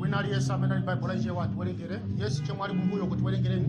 wina aliyense amene ali baibulo laichewa atiwerengere yes achemwali kumbuyoko tiwerengereni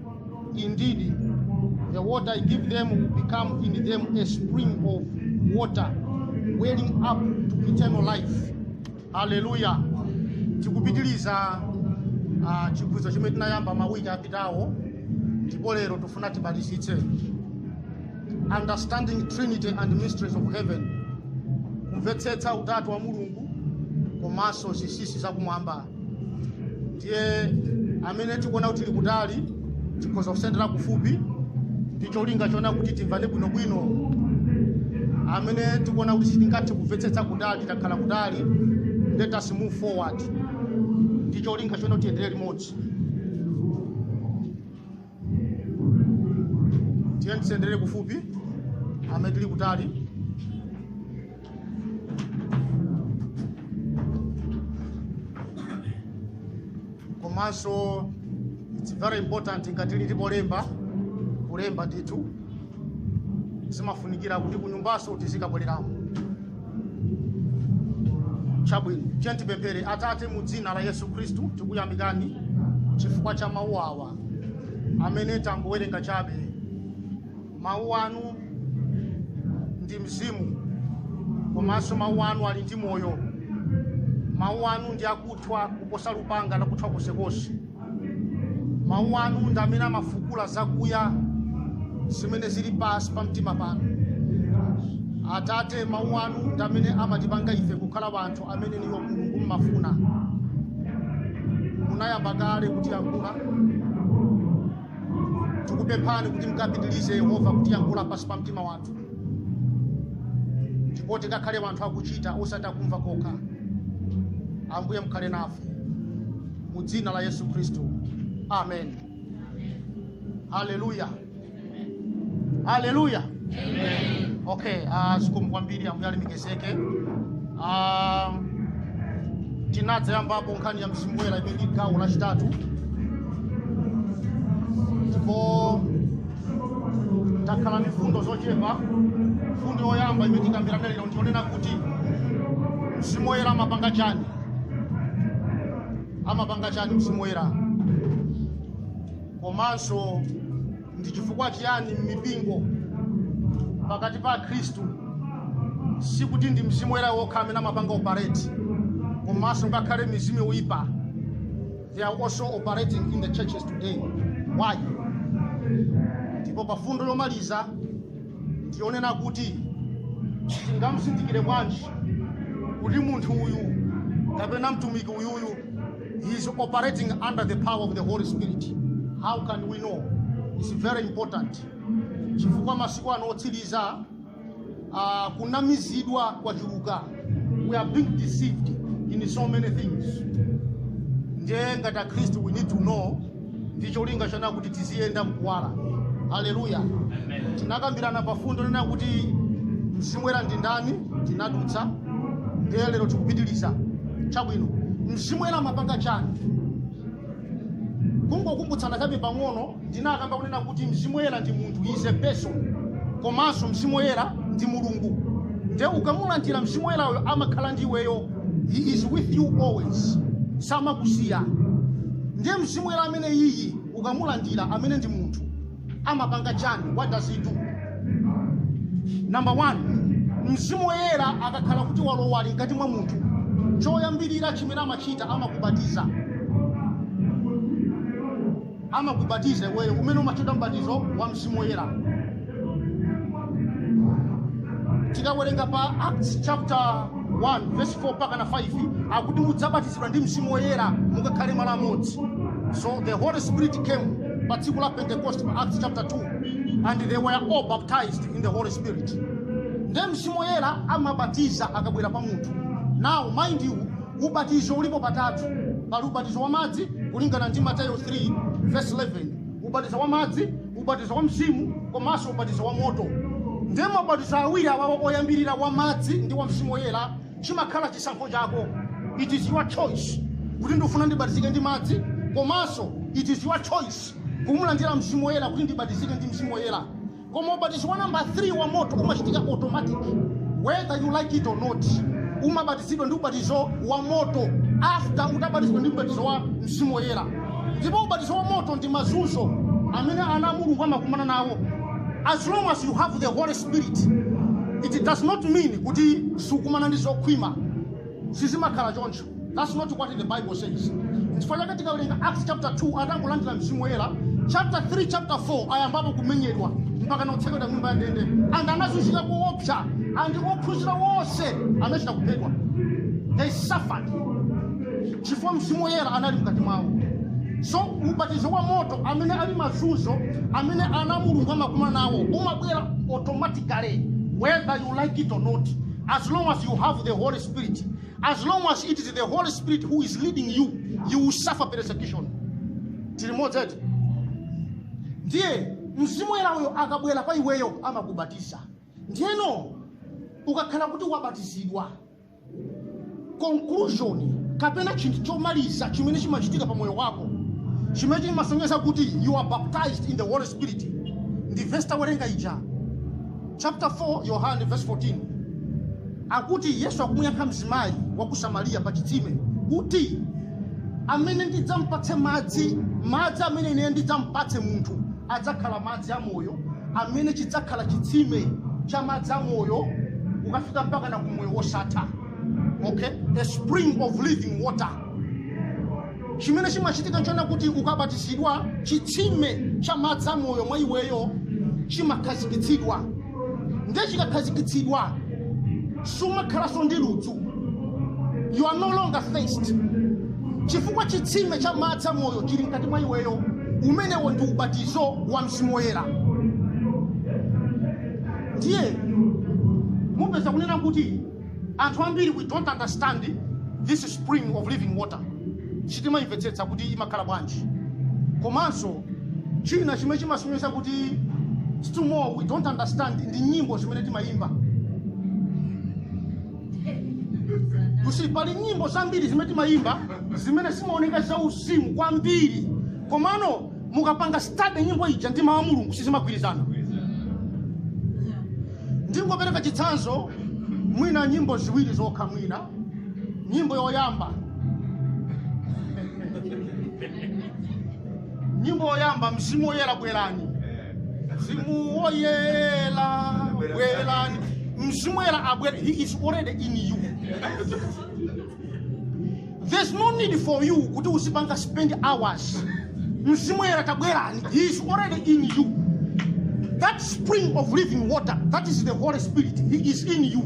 Indeed, the water I give them will become in them a spring of water welling up to eternal life. Hallelujah. Tikupitiliza uh, chiphunzitso chimene tinayamba mawiki apitawo ndipo lero tifuna timalizitse understanding trinity and mysteries of heaven kumvetsetsa utatu wa mulungu komanso zinsinsi zakumwamba ndiye amene tikuona kuti tili kutali tikhoza kusendera kufupi ndi cholinga chona kuti timvane bwinobwino amene tikuona kuti sitingathe kumvetsetsa kutali titakhala kutali let us move forward ndi cholinga chona kuti tiyendere limodzi tiyeni tisendere kufupi amene tili kutali komanso it's very important ngati tili polemba kulemba ndithu zimafunikira kuti kunyumbanso tizikabwereramo chabwino tiyeni tipemphere atate mu dzina la yesu khristu tikuyamikani chifukwa cha mawu awa amene tangowerenga chabe mawu anu ndi mzimu komanso mawu anu ali ndi moyo mawu anu ndi akuthwa kuposa lupanga lakuthwa konsekonse mawu anu ndi amene amafukula zakuya zimene zili pansi pa mtima panu atate mawu anu ndi amene amatipanga ife kukhala wanthu amene inuyo mulungu mmafuna munayamba kale kutiyankhula tikupemphani kuti mukapitirize yehova kutiyankhula pansi pa mtima wathu ndipo tikakhale anthu akuchita osati akumva kokha ambuye mukhale nafe mu dzina la yesu khristu amen haleluya haleluya Amen. Okay, uh, zikomo kwambiri ambuye alemekezeke. Uh, tinadzayambapo nkhani ya mzimu woyera imene ndi gawo lachitatu ndipo tikhala ndi mfundo zochepa mfundo yoyamba imene tikambirana lero ndi yonena kuti mzimu woyera amapanga chani amapanga chani mzimu woyera komanso Ndi chifukwa chiyani m'mipingo pakati pa Akhristu sikuti ndi mzimu woyera wokha amene amapanga operate komanso ngakhale mizimu yoyipa they are also operating in the churches today why ndipo pa mfundo yomaliza ndiyonena kuti tingamzindikire bwanji kuti munthu uyu kapena mtumiki uyuyu He is operating under the power of the Holy Spirit. How can we know? It's very important. Chifukwa masiku ano otsiriza uh, kunamizidwa kwachuluka. We are being deceived in so many things. Ndiye ngati Akristu we need to know ndi cholinga chonena kuti tiziyenda mkuwala haleluya tinakambirana pa mfundo yonena kuti mzimu woyera ndi ndani tinadutsa ndiye lero tikupitiriza chabwino mzimu woyera amapanga chani kungokumbutsana kaye pang'ono ndinakamba kunena kuti mzimu woyera ndi munthu is a person komanso mzimu woyera ndi mulungu nde ukamulandira mzimu woyerayo amakhala ndi iweyo he is with you always samakusiya ndiye mzimu woyera amene uyu ukamulandira amene ndi munthu amapanga chani what does he do number one mzimu woyera akakhala kuti walowa ali mkati mwa munthu choyambirira chimene amachita amakubatiza amakubatiza iweyo umene umatchedwa mbatizo wa mzimu woyera tikawerenga pa acts chapter 1 verse 4 mpaka na 5 akuti mudzabatizidwa ndi mzimu woyera mukakhale malo amodzi so the holy spirit came pa tsiku la pentecost pa acts chapter 2 and they were all baptized in the holy spirit nde mzimu woyera amabatiza akabwera pa munthu now mind you Ubatizo ulipo patatu. Pali ubatizo wa madzi kulingana ndi Mateyo 3 verse 11, ubatizo wa madzi, ubatizo wa Mzimu komanso ubatizo wa moto. Ndiye mabatizo awiri awawa oyambirira wa madzi ndi wa Mzimu Woyera chimakhala chisankho chako. It is your choice kuti ndifuna ndibatizike ndi madzi komanso it is your choice kumulandira Mzimu Woyera kuti ndibatizike ndi Mzimu Woyera. koma ubatizo wa namba 3 wa moto umachitika automatic whether you like it or not umabatizidwa ndi ubatizo wa moto after utabatizidwa ndi ubatizo wa mzimu woyera ndipo ubatizo wa moto ndi mazunzo amene ana a mulungu amakumana nawo as long as you have the holy spirit it does not mean kuti sukumana ndi zokhwima sizimakhala choncho That's not what the Bible says. Chifukwa chake tikawerenga Acts chapter 2 atangolandira mzimu woyera, chapter 3 chapter 4 ayambapo kumenyedwa mpaka na kutsekedwa m'nyumba ya ndende and anazunzika koopsa and ophunzira wonse anachita kuphedwa. They suffered chifukwa mzimu woyera anali mkati mwawo. So ubatizo wa moto amene ali mazunzo amene ana Mulungu amakumana nawo umabwera automatically whether you like it or not as long as you have the Holy Spirit As long as it is the Holy Spirit who is leading you, you will suffer persecution. Tili limodzi eti. Ndiye mzimu woyera uyo akabwera pa iweyo amakubatiza. Ndiyeno ukakhala kuti wabatizidwa conclusion kapena chinthu chomaliza chimene chimachitika pa moyo wako chimene chimasonyeza kuti you are baptized in the holy spirit ndi vesi tawerenga ija chapter 4 Yohane verse 14 akuti Yesu akumuyankha mzimayi wa ku Samariya pa chitsime kuti amene ndidzampatse madzi madzi amene ine ndidzampatse munthu adzakhala madzi amoyo amene chidzakhala chitsime cha madzi amoyo kukafika mpakana ku moyo wosatha okay a spring of living water chimene chimachitika nchonena kuti ukabatizidwa chitsime cha madzi amoyo mwa iweyo chimakhazikitsidwa nde chikakhazikitsidwa sumakhalanso ndi ludzu you are no longer thirsty chifukwa chitsime cha madzi amoyo chili mkati mwa iweyo umenewo ndi ubatizo wa mzimu woyera ndiye mupeza kunena kuti Anthu ambiri we don't understand this spring of living water sitimayimvetsetsa kuti imakhala bwanji komanso china chimene chimasonyeza kuti still more we don't understand ndi nyimbo zimene timayimba you see pali nyimbo zambiri zimene timayimba zimene zimaoneka zauzimu kwambiri komano mukapanga study nyimbo ija ndi mawu a mulungu sizimagwirizana ndingopereka chitsanzo mwina nyimbo ziwiri zokha mwina nyimbo yoyamba nyimbo yoyamba mzimu woyera bwerani mzimu woyera bwerani mzimu woyera abwere he is already in you there's no need for you kuti uzipanga spend hours mzimu woyera tabwerani he is already in you that spring of living water that is the holy spirit he is in you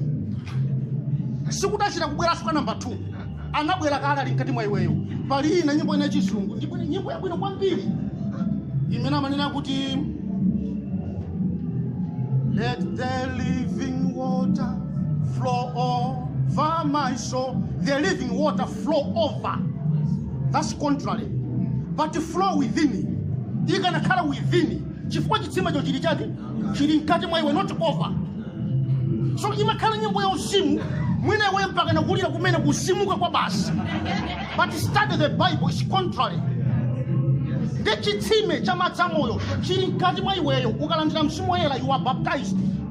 sikuti achita kubweranso kwa namba 2 anabwera kale ali mkati mwa iweyo pali ina nyimbo ina yachizungu ndipo ndi nyimbo yabwino kwambiri imene amanena kuti let the living water Flow over my soul. The living water flow over. That's contrary. But flow within. ikanakhala within. chifukwa chitsimecho chili chake chili mkati mwa iwe not over so imakhala nyimbo ya uzimu mwina iwe mpakana kulira kumene kuzimuka kwa basi but study the bible is contrary ndi chitsime cha madzi amoyo chili mkati mwa iweyo ukalandira mzimu woyera you are baptized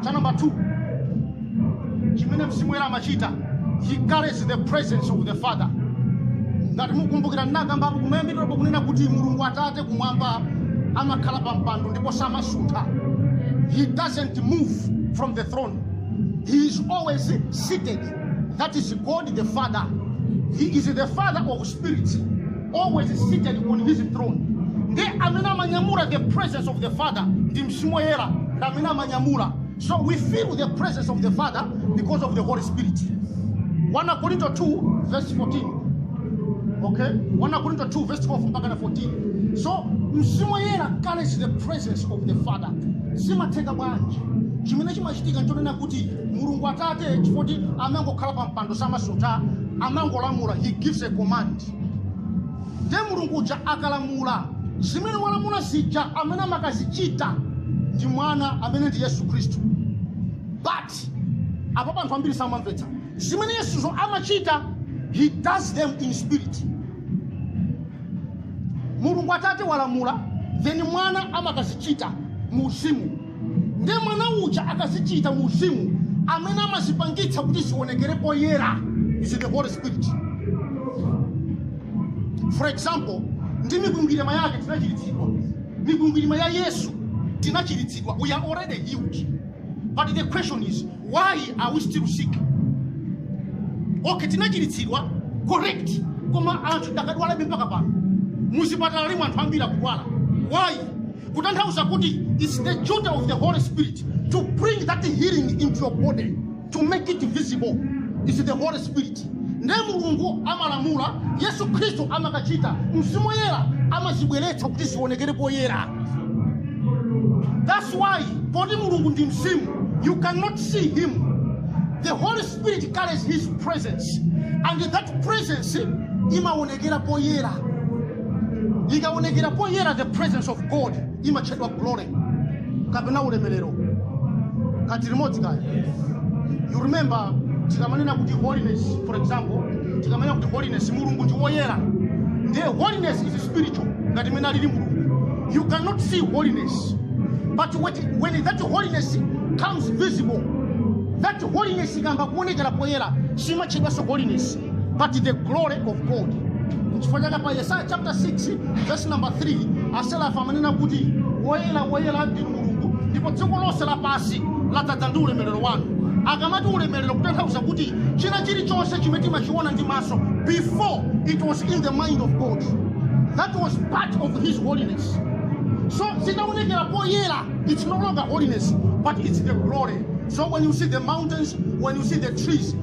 cha namba 2 chimene mzimu woyera amachita he carries the presence of the father ngati mukumbukira ndinakambapo kumayambiriro kunena kuti mulungu atate kumwamba amakhala pa mpando ndipo samasuntha he doesn't move from the throne he is always seated that is god the father he is the father of spirit always seated on his throne ndiye amene amanyamula the presence of the father ndi mzimu woyera ndi amene amanyamula so we feel the presence of the father because of the holy spirit 1 korinto 2 verse 14 okay 1 korinto 2 verse 12 mpaka na 14 so mzimu woyera carries the presence of the father zimatheka bwanji chimene chimachitika nchonena kuti mulungu atate chifoti amangokhala pa mpando samasuntha amangolamula he gives a command Ndiye Mulungu uja akalamula zimene walamula zija, amene amakazichita ndi mwana amene ndi Yesu Khristu. But apapa anthu ambiri samamvetsa zimene Yesuzo amachita, he does them in spirit. Mulungu Atate walamula, then mwana amakazichita mu uzimu. nde mwana uja akazichita mu uzimu amene amazipangitsa kuti zionekere poyera is the holy spirit for example ndi mikwingwirima yake tinachiritsidwa mikwingwirima ya yesu tinachiritsidwa we are already healed but the question is why are we still sick okay tinachiritsidwa correct koma anthu akadadwalabe mpaka pano muzipatalamu anthu ambiri akudwala why kutanthauza kuti its the duty of the holy spirit to bring that healing into your body to make it visible its the holy spirit nde mulungu amalamula yesu khristu amakachita mzimu woyera amazibweretsa kuti zionekere poyera that's why poti mulungu ndi mzimu you cannot see him the holy spirit carries his presence and that presence imaonekera poyera ikaonekera poyera the presence of god imatchedwa glory kapena ulemerero tili limodzi kaya you remember tikamanena kuti holiness for example tikamanena kuti holiness mulungu ndi woyera ndiye holiness is spiritual ngati mmene alili mulungu you cannot see holiness but when that holiness comes visible that holiness ikayamba kuonekera poyera simatchedwanso holiness but the glory of god chifukwa chake pa yesaya chapter 6 verse number 3 aserafi amanena kuti woyera woyera ndinu mulungu ndipo dziko lonse lapansi ladzadza ndi ulemerero wanu akamati ulemerero kutanthauza kuti china chilichonse chimene timachiona ndi maso before it was in the mind of god that was part of his holiness so zitaonekera poyera it's no longer holiness but it's the glory so when you see the mountains when you see the trees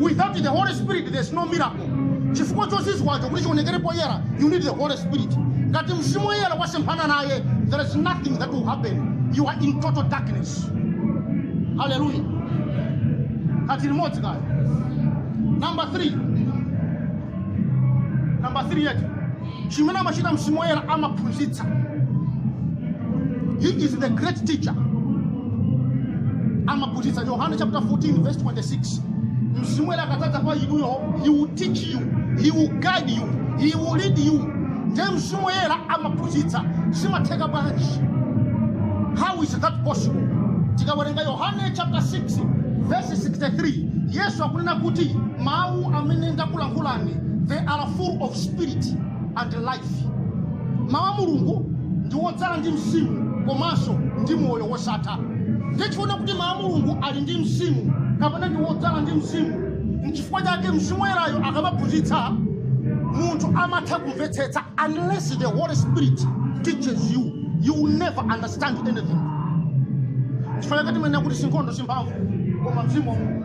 without the holy spirit there's no miracle chifukwa chozizwacho kuti chionekere poyera you need the holy spirit ngati mzimu woyera wasemphana naye there is nothing that will happen you are in total darkness haleluya kathu kalimodzi kaya number 3 number 3 yeti chimene amachita mzimu woyera amaphunzitsa he is the great teacher amaphunzitsa yohane chapter 14 verse 26 mzimu woyera akadzadza pa inuyo he will teach you he will guide you he will lead you ndiye mzimu woyera amaphunzitsa zimatheka bwanji how is that possible tikawerenga yohane chapter 6 verse 63 yesu akunena kuti mawu amene ndakulankhulani they are full of spirit and life. Mawu a Mulungu ndi wodzala ndi mzimu komanso ndi moyo wosatha. Ndiye tikuona kuti mawu a Mulungu ali ndi mzimu kapena ndi wodzala ndi mzimu. N'chifukwa chake mzimu woyerayo akamaphunzitsa munthu amatha kumvetsetsa unless the Holy Spirit teaches you you will never understand anything. Chifukwa chake timanena kuti sinkhondo simphamvu koma mzimu wa Mulungu.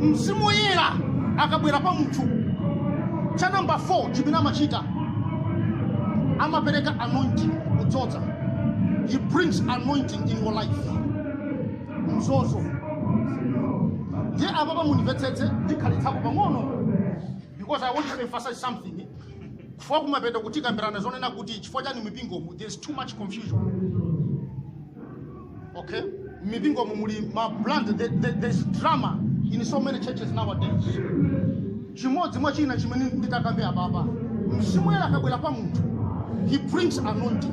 mzimu woyera akabwera pa munthu cha namba 4 chimene amachita amapereka anointing kudzoza he brings anointing in your life mzozo ndiye apapa mundimvetsetse ndikhalitsapo pang'ono because i want to emphasize something chifukwa kumapetoku tikambirana zonena kuti chifukwa chani mipingomu there is too much confusion Okay? Mipingomu muli ma brand there, there, there's drama in so many churches nowadays. Chimodzi mwa china chimene nditakambe apapa. Mzimu woyera akabwera pa munthu. He brings anointing.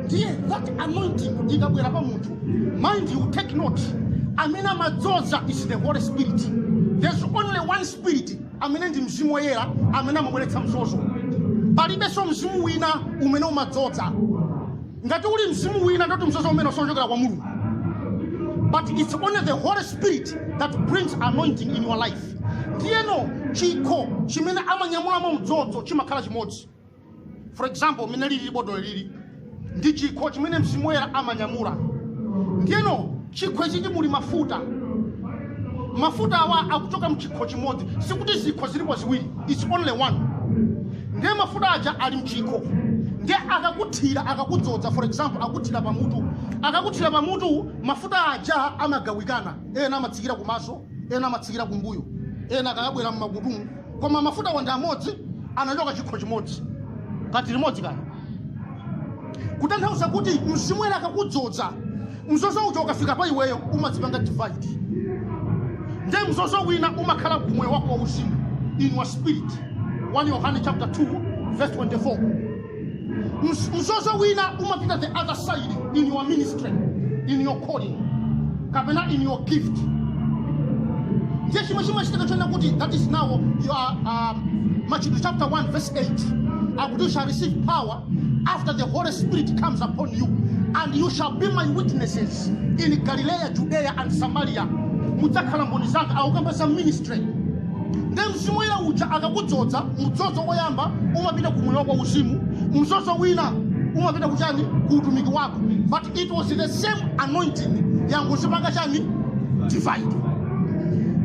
Ndiye that anointing ikabwera pa munthu. Mind you take note. Amene amadzoza is the Holy Spirit. There's only one spirit amene ndi mzimu woyera amene amabweretsa mzozo. Palibenso mzimu wina umene umadzoza. ngati uli mzimu wina nde kuti mzozo umenewo siochokera kwa mulungu but it's only the holy spirit that brings anointing in your life ndiyeno chikho chimene amanyamulamo mdzozo chimakhala chimodzi for example mene lili botolo ili ndi chikho chimene mzimu woyera amanyamula ndiyeno Chikho ichi muli mafuta. Mafuta awa akuchoka mchikho chimodzi. Sikuti zikho zilipo ziwiri. It's only one. Ndiye mafuta aja ali mchikho. Ndiye akakuthira, akakudzodza for example, akuthira pamutu. Akakuthira pamutu, mafuta aja amagawikana. Ena amatsikira kumaso, ena amatsikira kumbuyo ena akayabwera mmakutumu koma mafuta wo ndi amodzi anachoka chikho chimodzi kati limodzi kaya kutanthauza kuti mzimu woyera akakudzodza mzozo uja ukafika pa iweyo umadzipanga divide nde mzozo wina umakhala kumoyo wako wa uzimu in your spirit 1 yohane chapter 2 verse 24 Mzozo wina umapita the other side in your ministry in your calling kapena in your gift ndiye chimwe chimachitika chonena kuti that is now your um, machitidwe chapter 1 verse 8 akuti you shall receive power after the holy spirit comes upon you and you shall be my witnesses in galileya judea and samaria mudzakhala mboni zanga akukamba za ministry Nde Mzimu Woyera uja akakudzodza, mdzozo woyamba umapita ku moyo wako wauzimu, mdzozo wina umapita ku chani? Ku utumiki wako. But it was the same anointing yangodzipanga chani? Divide.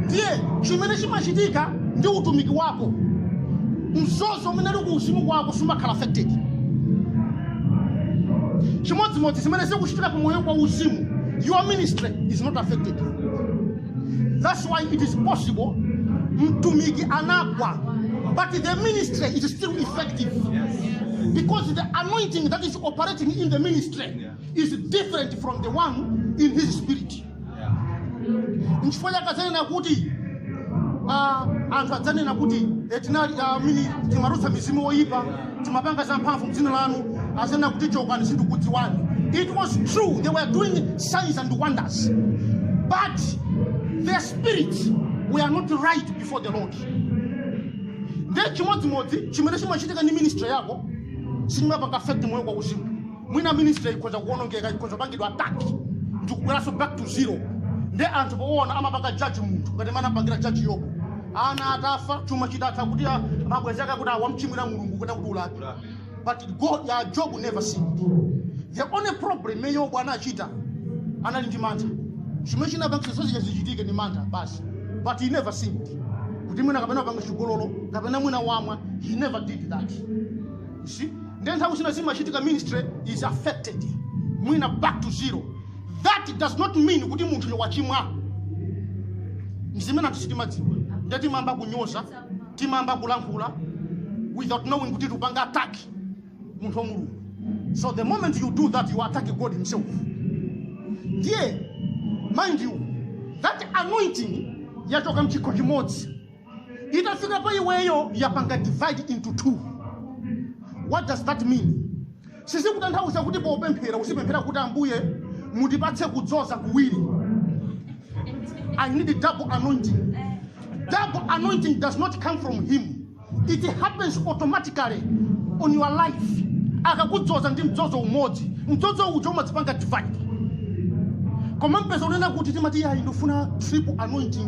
Ndiye chimene chimachitika ndi utumiki wako, mdzozo umene uli ku uzimu kwako sumakhala affected. Chimodzimodzi zimene zikuchitika ku moyo kwa uzimu, your ministry is not affected. That's why it is possible mtumiki anagwa, but the ministry is still effective. Because the anointing that is operating in the ministry is different from the one in his spirit. Nchifukwa chake adzanena kuti ah, anthu adzanena kuti eti tinali timatulutsa mizimu oyipa timapanga zamphamvu mdzina lanu adzanena kuti chokani sindikudziwani it was true they were doing signs and wonders but their spirit were not right before the lord nde chimodzimodzi chimene chimachitika ndi ministry yako sichimapanga affect moyo kwa uzimu mwina ministry ikhoza kuonongeka ikhoza kupangidwa attack ndikubweranso back to zero nde anthu poona amapanga judge munthu ngati mmene anapangira judge yobu ana atafa chuma chitatha kuti a- mabwenzi ake akuti wamchimwira mulungu kuti akuti ulapi but god job never sinned the only problem imene yobu anachita anali ndi mantha chimene chinapangitsa zonsezi zichitike ndi mantha basi but he never sinned kuti mwina kapena wapanga chigololo kapena mwina wamwa he never did that see ndiye nthawi zina zimachitika ministry is affected mwina back to zero that does not mean kuti munthuyo wachimwa nzimene anthu sitimadziwa ndiye timayamba kunyoza timayamba kulankhula without knowing kuti tikupanga attack munthu wa mulungu so the moment you do that you attack god himself ndiye mind you that anointing yachoka mchikho chimodzi itafika pa iweyo yapanga divide into two what does that mean sizikutanthauza kuti popemphera usipemphera kuti ambuye mundipatse kudzoza kuwiri i need double anointing double anointing does not come from him it happens automatically on your life akakudzoza ndi mdzozo umodzi mdzozo uja umadzipanga divide koma mupeza kunena kuti timati yayi ndifuna triple anointing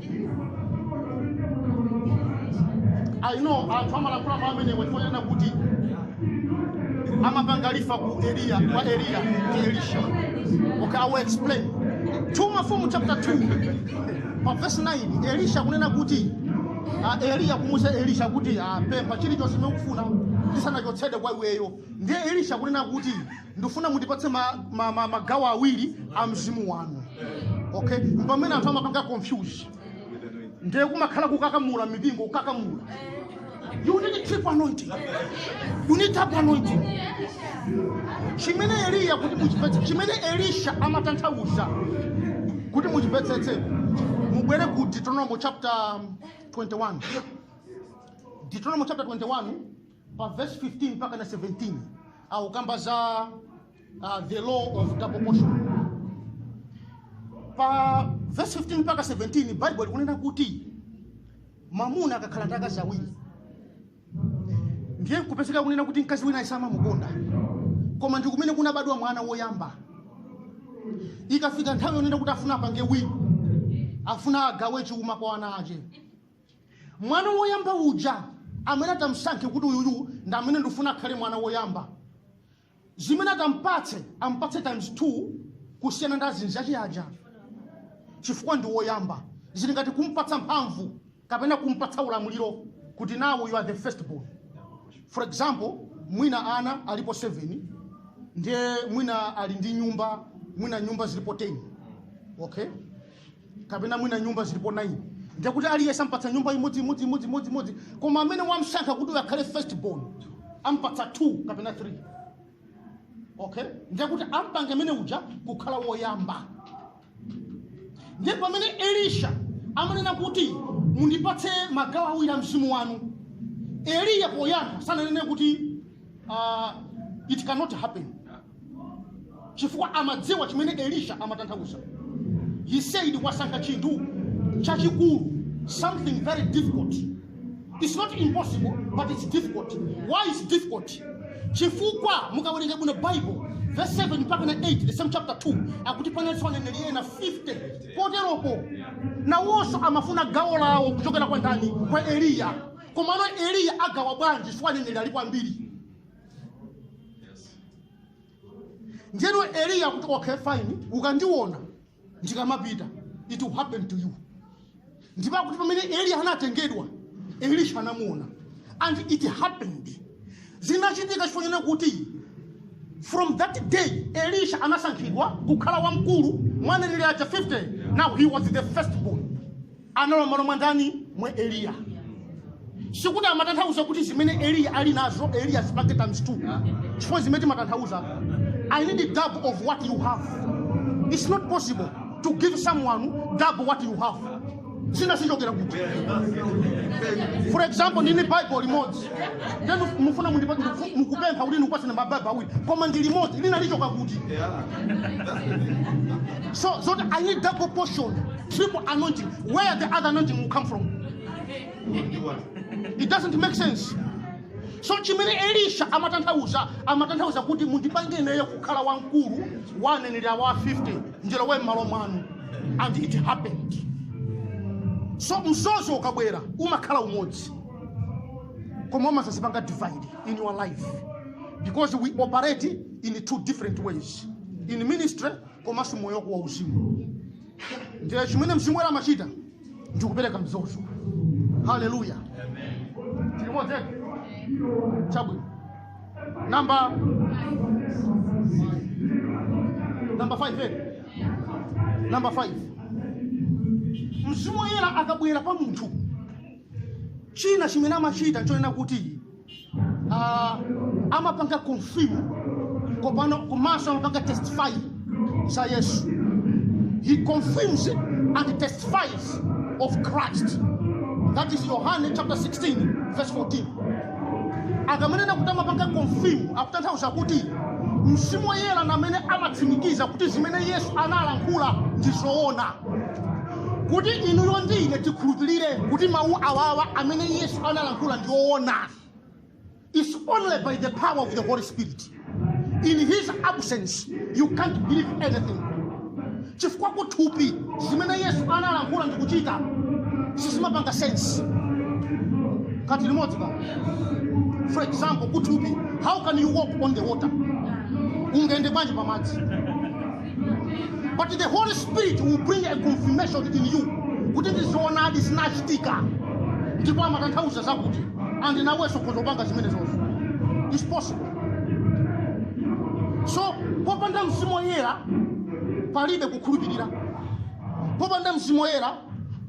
I know anthu amalankhula mawu amenewa chifukwa chonena kuti amapanga refer ku Eliya kwa Eliya ndi Elisha. Okay, I will explain. 2 Mafumu chapter 2 pa verse 9 Elisha kunena kuti ah, Eliya kumuuza Elisha kuti ah, pempha chilichonse chimene ukufuna ndisanachotsedwe kwa iweyo. Ndiye Elisha kunena kuti ndifuna mundipatse ma, ma, ma, magawo awiri a mzimu wanu okay mpamene anthu amapanga confuse ndiye kumakhala kukakamula mmipingo kukakamula you need triple anointing you need double anointing chimene eliya kuti muchipetse chimene elisha amatanthauza kuti muchipetsetse mubwere ku deuteronomo chapter 21 deuteronomo chapter 21 pa verse 15 mpaka na 17 akukamba za uh, the law of double portion pa verse 15 mpaka 17 bible likunena kuti mamuna akakhala ndi akazi awiri ndiye kupezeka kunena kuti mkazi winayo samamukonda koma ndi kumene kunabadwa mwana woyamba ikafika nthawi yonena kuti afuna apange wina afuna agawe chuma kwa ana ache Mwana woyamba uja amene atamsankhe kuti uyuyu ndi amene ndifuna akhale mwana woyamba, zimene atampatse ampatse times 2 kusiyana ndi azinzache aja, chifukwa ndi woyamba. Zili ngati kumpatsa mphamvu kapena kumpatsa ulamuliro kuti now you are the first born. For example, mwina ana alipo 7 ndiye mwina ali ndi nyumba, mwina nyumba zilipo 10. Okay? kapena mwina nyumba zilipo 9 ndekuti aliyense ampatsa nyumba imodzi imodzi imodzi imodzi imodzi koma amene wamsankha kuti uyu akhale first born ampatsa 2 kapena 3 okay ndekuti ampange amene uja kukhala woyamba ndiye pamene elisha amanena kuti mundipatse magawo awiri a mzimu wanu eliya poyamba sananene kuti uh, it cannot happen chifukwa amadziwa chimene elisha amatanthauza he said wasankha chinthu chachikulu something very difficult it's not impossible but it's difficult why is difficult chifukwa mukawerenga bwino bible verse 7 mpaka na 8 the same chapter 2 akuti panalinso aneneri ena 50 poteropo nawonso amafuna gawo lawo kuchokera kwa ndani kwa eliya komano eliya agawa bwanji chifukwa aneneri alipo ambiri ndiyeno eliya akuti okay fine ukandiona ndikamapita it will happen to you ndipo akuti pamene eliya anatengedwa elisha anamuona and it happened zinachitika chifukwa chonena kuti from that day elisha anasankhidwa kukhala wamkulu mwa aneneri aja 50 now he was the first born analowa m'malo mwa ndani mwa eliya sikuti amatanthauza kuti zimene eliya ali nazo elisha azipange times two chifukwa ndi zimene timatanthauza i need a double of what you have it's not possible to give someone double what you have zina zichokera kuti for example ndili ndi bible limodzi nde inu mufuna mundipa- ndiku- mukupempha kuti ndikupatseni ma bible awiri koma ndili ndi limodzi lina lichoka kuti so zoti i need double portion triple anointing where the other anointing will come from. It doesn't make sense. So chimene Elisha amatanthauza amatanthauza kuti mundipange ineyo kukhala wamkulu wa aneneri awa 50 ndilowe mmalo mwanu and it happened. So mdzozo ukabwera umakhala umodzi koma umadzadzipanga divide in your life because we operate in two different ways in ministry komanso moyo wako wa uzimu ndiye chimene mzimu woyera amachita ndi kupereka mdzozo haleluya tili limodzi eti chabwino namba namba 5 eh? namba 5 mzimu woyera akabwera pa munthu china chimene amachita nchonena kuti uh, amapanga confirm pano komanso amapanga testify za yesu he confirms and testifies of christ that is yohane chapter 16 verse 14 akamanena kuti amapanga confirm akutanthauza kuti mzimu woyera ndi amene amatsimikiza kuti zimene yesu analankhula ndi zoona kuti inuyo ndi ine tikhulupirire kuti mawu awawa amene yesu analankhula ndi owona it's only by the power of the holy spirit in his absence you can't believe anything chifukwa kuthupi zimene yesu analankhula ndi kuchita sizimapanga sense kati limodzi ka for example kuthupi how can you walk on the water ungayende bwanji pamadzi but the holy spirit will bring a confirmation in you kuti ndi zoonadi zinachitika ndipo amatanthauza zakuti and nawenso ukhoza kupanga zimenezozo it's possible so popanda mzimu woyera palibe kukhulupirira popanda mzimu woyera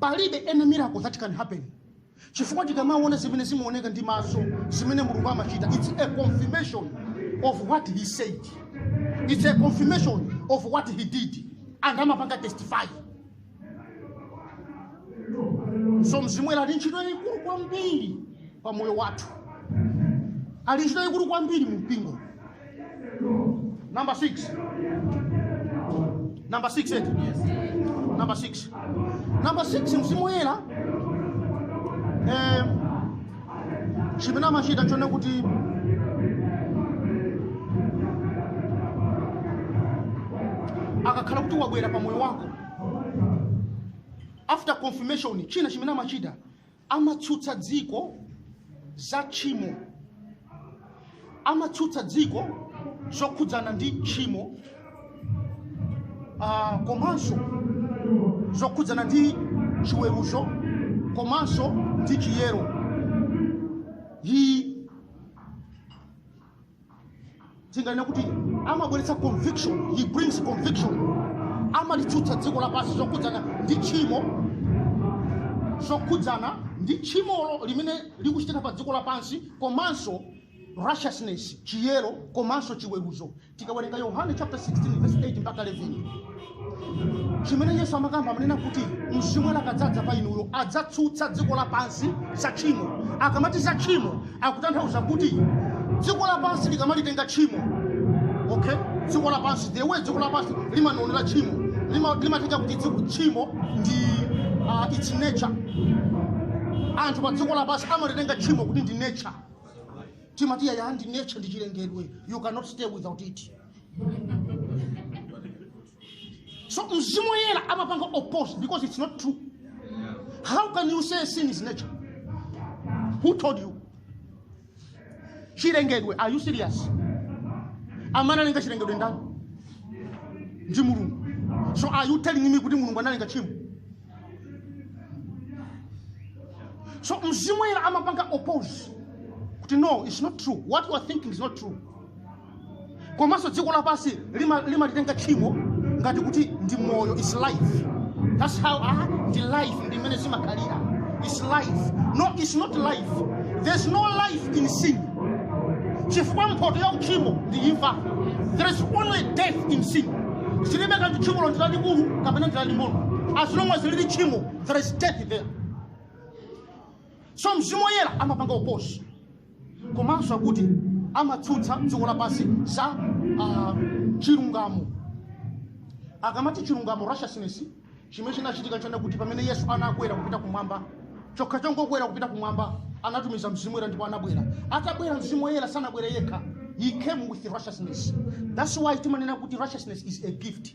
palibe any miracle that can happen chifukwa tikamaona zimene zimaoneka ndi maso zimene mulungu amachita its a confirmation of what he said its a confirmation of what he did and amapanga testify so mzimu woyera ali ntchito yayikulu kwambiri pa moyo wathu ali ntchito yayikulu kwambiri mu mpingo Number six. Number six eti. Number six. Number six mzimu woyera eh, chimene amachita n'chonena kuti akakhala kuti wabwera pa moyo wako after confirmation china chimene amachita amatsutsa dziko za tchimo, amatsutsa dziko zokhudzana ndi tchimo ah, komanso zokhudzana ndi chiweruzo komanso ndi chiyero. He tinganene kuti amabweretsa conviction he brings conviction amalitsutsa dziko lapansi zokhudzana ndi tchimo zokhudzana ndi tchimolo limene likuchitika pa dziko lapansi komanso righteousness chiyero komanso chiweruzo tikawerenga yohane chapter 16 verse 8 mpaka 11 chimene yesu amakamba amanena kuti mzimu akadzadza pa inuyo adzatsutsa dziko lapansi za tchimo akamati za tchimo akutanthauza kuti dziko lapansi likamalitenga tchimo okay dziko lapansi the way dziko lapansi limaonera tchimo lima- limatenga kuti dziko- tchimo ndi uh, its nature anthu pa dziko lapansi amalitenga tchimo kuti ndi nature timati yaya ndi nature ndi chilengedwe you cannot stay without it so mzimu woyera amapanga oppose because it's not true how can you say sin is nature who told you chilengedwe are you serious amene analenga chilengedwe ndani ndi mulungu so are you telling me kuti mulungu analenga tchimo so mzimu woyera amapanga oppose kuti no it's not true what you are thinking is not true komanso dziko lapansi lima- limalitenga tchimo ngati kuti ndi moyo is life that's how ah, ndi life ndi mmene zimakhalira is life no is not life there's no life in sin chifukwa mphoto ya uchimo ndi imfa there is only death in sin zilibe kanthu tchimolo ndi lalikulu kapena ndi laling'ono as long as lili tchimo there is death there so mzimu woyera amapanga oppose komanso akuti amatsutsa dziko lapansi za ah, chilungamo akamati chilungamo righteousness chimene chinachitika nchonena kuti pamene yesu anakwera kupita kumwamba chokha chongokwera kupita kumwamba anatumiza mzimu woyera ndipo anabwera atabwera mzimu woyera sanabwere yekha he came with righteousness that's why timanena kuti righteousness is a gift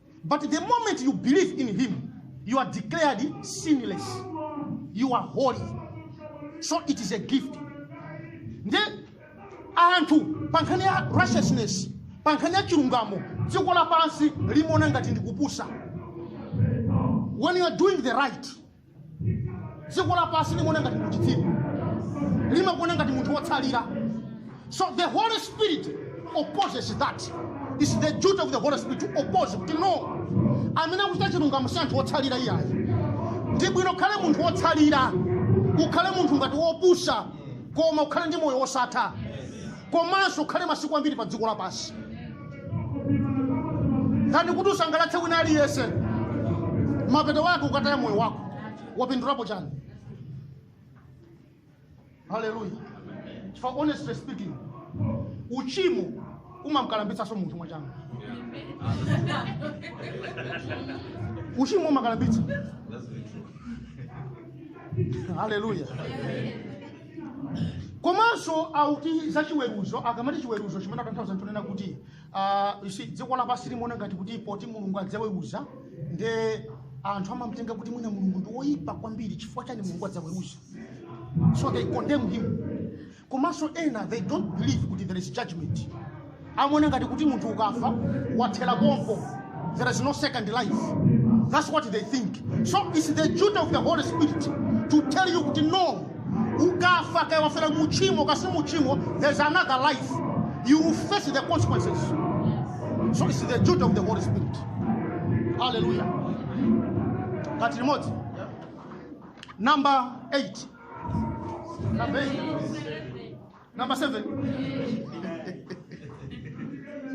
But the moment you believe in him, you are declared sinless. You are holy. So it is a gift. Nde anthu pa nkhani ya righteousness, pa nkhani ya chilungamo, dziko lapansi limaona ngati ndikupusa. When you are doing the right, dziko lapansi limaona ngati uchitsiru limakuona ngati munthu wotsalira so the holy spirit opposes that its the duty of the holy spirit to oppose kuti no amene akuchita chilungamo si anthu wotsalira iyayi ndi bwino ukhale munthu wotsalira ukhale munthu ngati wopusa koma ukhale ndi moyo wosatha komanso ukhale masiku ambiri pa dziko lapansi kani kuti usangalatse wina aliyense mapeto wake ukataya moyo wako wapindulapo chani haleluya chifukwa honestly speaking uchimo umamkalambitsanso munthu mwachangu uchimo umakalambitsa haleluya komanso auti za chiweruzo akamati chiweruzo chimene atanthauza nchonena kuti ah, you see, dziko lapansi limaona ngati kuti poti mulungu adzaweruza nde anthu amamtenga kuti mwina mulungu ndi woyipa kwambiri chifukwa chani mulungu adzaweruza so they condemn him komanso ena they don't believe kuti there is judgment amaona ngati kuti munthu ukafa wathera pompo there is no second life that's what they think so it's the duty of the holy spirit to tell you kuti no ukafa kaya wafera muchimo kasi muchimo there's another life you will face the consequences so it's the duty of the holy spirit hallelujah kati limodzi number 8 number 8 Number seven.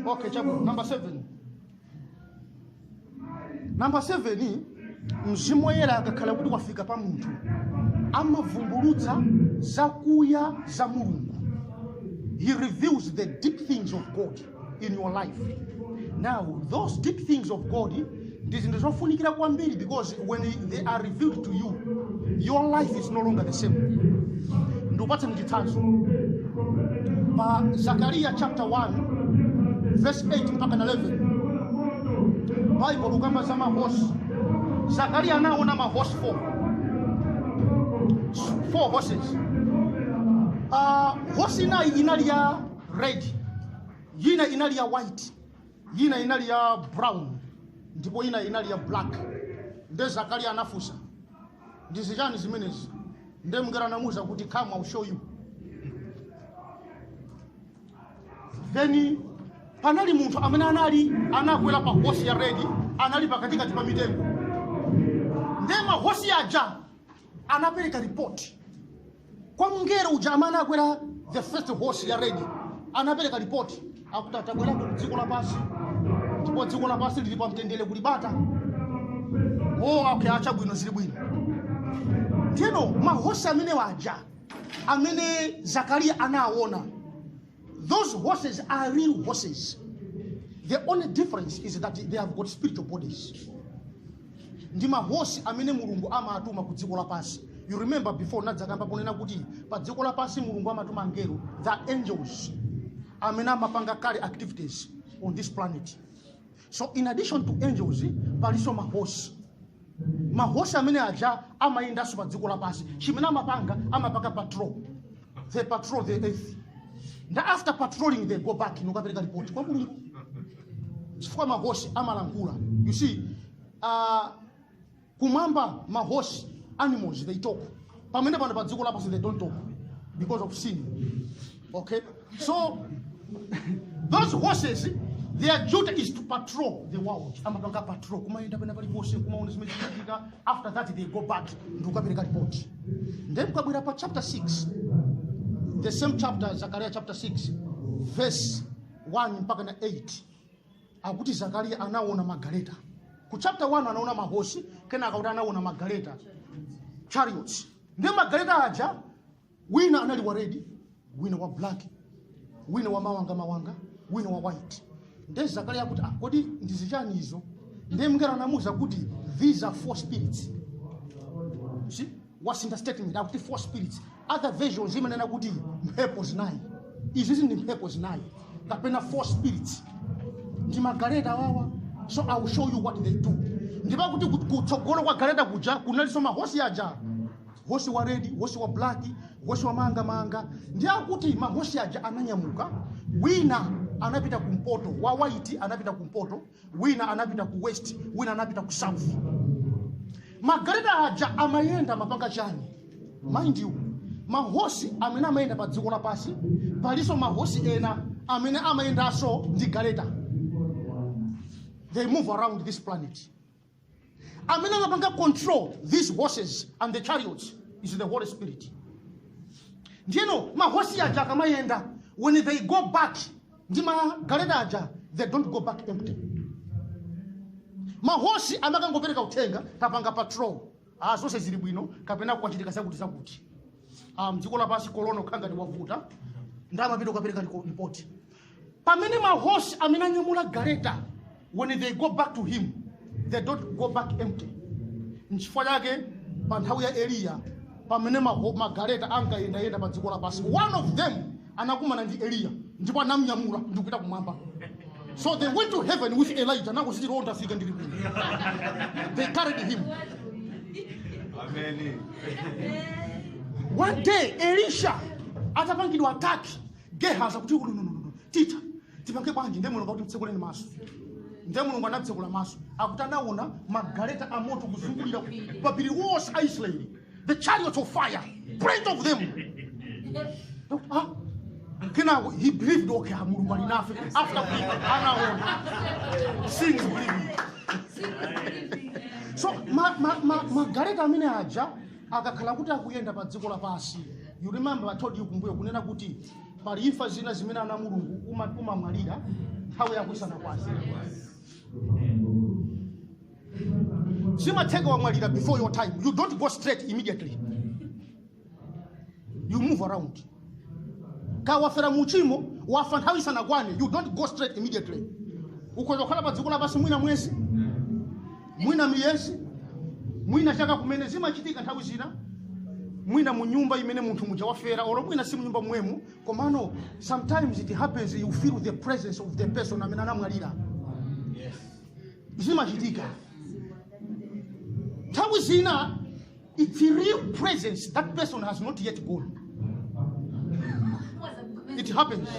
okay, chabu. Number seven. Number seven, ni mzimu woyera akakhala kuti wafika pa munthu amavumbulutsa zakuya za mulungu he reveals the deep things of god in your life now those deep things of god ndi zinthu zofunikira kwambiri because when they are revealed to you your life is no longer the same ndikupatsani chitsanzo pa zakariya chapter 1 verse 8 mpaka 11 Bible ikukamba za mahosi zakariya anaona mahosi 4 four horses uh, hosi ina inali ya red yina inali ya white yina inali ya brown ndipo yina inali ya black nde zakariya anafunsa ndi zichani zimenezi nde mngelo anamuwuza kuti come I'll show you then panali munthu amene anali anakwera pa hosi ya red anali pakatikati pa mitengo nde mahosi aja anapereka report kwa mngelo uja amene anakwera the first horse ya red anapereka report akuti atabwerako ku dziko lapansi ndipo dziko lapansi lili pa mtendere kuli bata o okay acha bwino zili bwino ndiyeno mahosi amene waja amene zakariya anaawona Those horses are real horses. The only difference is that they have got spiritual bodies. Ndi mahosi amene Mulungu amatuma ku dziko lapansi. You remember before nadzakamba ponena kuti pa dziko lapansi Mulungu amatuma angelo, the angels amene amapanga kale activities on this planet. so in addition to angels palinso mahosi mahosi amene aja amayendanso pa dziko lapansi chimene amapanga amapanga patrol they patrol the earth and after patrolling they go back nokapereka report kwa mulungu chifukwa mahosi amalankhula you see uh, Kumwamba mahosi animals they talk. Pamene pano pa dziko lapansi they don't talk because of sin. Okay? So those horses their duty is to patrol the world. Amapanga patrol kumayenda pena pali ponse kumaona zimene zikuchitika after that they go back ndikukapereka report. Then tikabwera pa chapter 6 the same chapter Zechariah chapter 6 verse 1 mpaka na 8 akuti zakariya anaona magaleta ku chapter 1 anaona mahosi kenaka kuti anaona magaleta chariots ndi magaleta aja wina anali wa red wina wa black wina wa mawanga mawanga wina wa white nde zakariya akuti ah, kodi ndi zichani izo nde mngelo anamuuza kuti these are four spirits See? wasintha statement akuti four spirits other versions imanena kuti mphepo zinayi iziizi ndi mphepo zinayi kapena four spirits ndi magaleta awawa so i will show you what they do ndipo kuti ku- kutsogolo kwa galeta kuja kunalinso mahosi aja hosi wa redi hosi wa blaki hosi wa mawangamawanga ndi akuti mahosi aja ananyamuka wina anapita kumpoto wa waiti anapita kumpoto wina anapita ku west wina anapita ku south magaleta aja amayenda amapanga chani mind you mahosi amene amayenda pa dziko lapansi palinso mahosi ena amene amayendanso ndi galeta they move around this planet amene amapanga control these horses and the chariots is the holy spirit ndiyeno mahosi aja akamayenda when they go back ndi magaleta aja they don't go back empty mahosi amakangopereka uthenga tapanga patrol ah zonse zili bwino kapena kwachitika zakuti zakuti ah mdziko lapansi corona kukhala ngati wavuta nde amapita kukapereka report pamene mahosi amene anyamula gareta when they go back to him they don't go back empty nchifukwa chake pa nthawi ya eliya pamene maho- magareta ankayendayenda pa dziko lapansi one of them anakumana ndi Eliya ndipo anamnyamula ndi kupita kumwamba. So they went to heaven with Elijah. Nangu sisi roho ndafika ndili kuno. They carried him. Amen. One day Elisha atapangidwa ataki Gehazi kuti no no no no tita tipange bwanji ndiye mulungu mtsekuleni maso ndiye mulungu anamtsekula maso akuti anaona magaleta a moto kuzungulira mapiri onse a Israeli the chariots of fire plenty of them Ah, kenako he believed okay ah, mulungu ali nafe after believing, anaona seeing is believing so ma- ma- ma- magaleta amene aja akakhala kuti akuyenda pa dziko lapansi you remember i told you kumbuyo kunena kuti pali imfa zina zimene ana mulungu uma- umamwalira nthawi yako isanakwane zimatheka wamwalira before your time you don't go straight immediately you move around kaya wafera mu uchimo wafa nthawi isanakwane you don't go straight immediately ukhoza kukhala pa dziko lapansi mwina mwezi mwina miyezi mwina chaka kumene zimachitika nthawi zina mwina mu nyumba imene munthu muja wafera olo mwina si mu nyumba mwemu komano sometimes it happens you feel the presence of the person amene anamwalira zimachitika nthawi zina it's a real presence that person has not yet gone it happens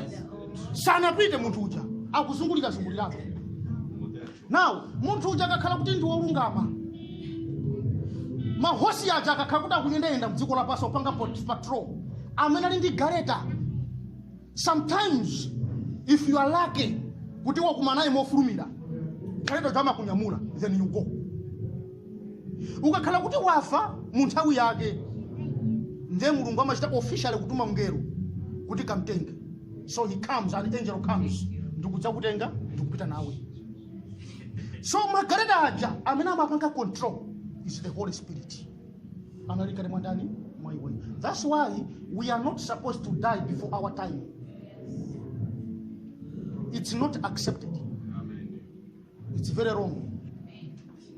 sanapite munthu uja akuzungulira zungulirako now munthu uja akakhala kuti ndi wolungama mahosi aja akakhala kuti akuyendayenda mdziko lapansi opanga patrol amene ali ndi galeta sometimes if you are lucky kuti wakumana naye mofulumira gareta uja amakunyamula then you go ukakhala kuti wafa mu nthawi yake ndiye mulungu amachita officially kutuma mngelo kuti kamtenge so he comes an angel comes ndikudzakutenga ndikupita nawe so magareta aja amene amapanga control is the holy spirit anali kale mwandani mwa iwe that's why we are not supposed to die before our time it's not accepted it's very wrong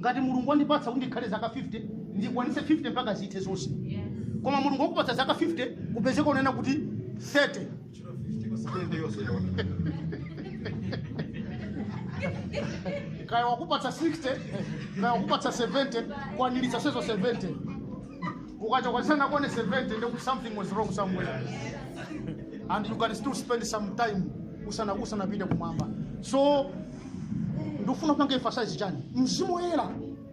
ngati mulungu wandipatsa kuti ndikhale zaka 50 ndikwanitse 50 mpaka zithe zonse koma mulungu wakupatsa zaka 50 kupezeka unena kuti 30 kaya wakupatsa 60 kaya wakupatsa 70 kwanilitsa zonsezo 70 ukachoka isanakwane 70 ndiye kuti something was wrong somewhere and you can still spend some time usana usanapite kumwamba so ndikufuna kupanga emphasize chani mzimu woyera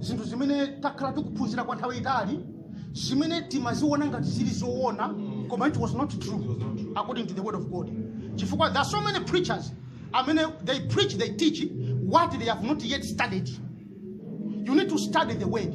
zinthu zimene takhala tikuphunzira kwa nthawi yaitali zimene timaziona ngati zili zoona koma it was not true according to the word of god chifukwa there are so many preachers amene they preach they teach what they have not yet studied you need to study the word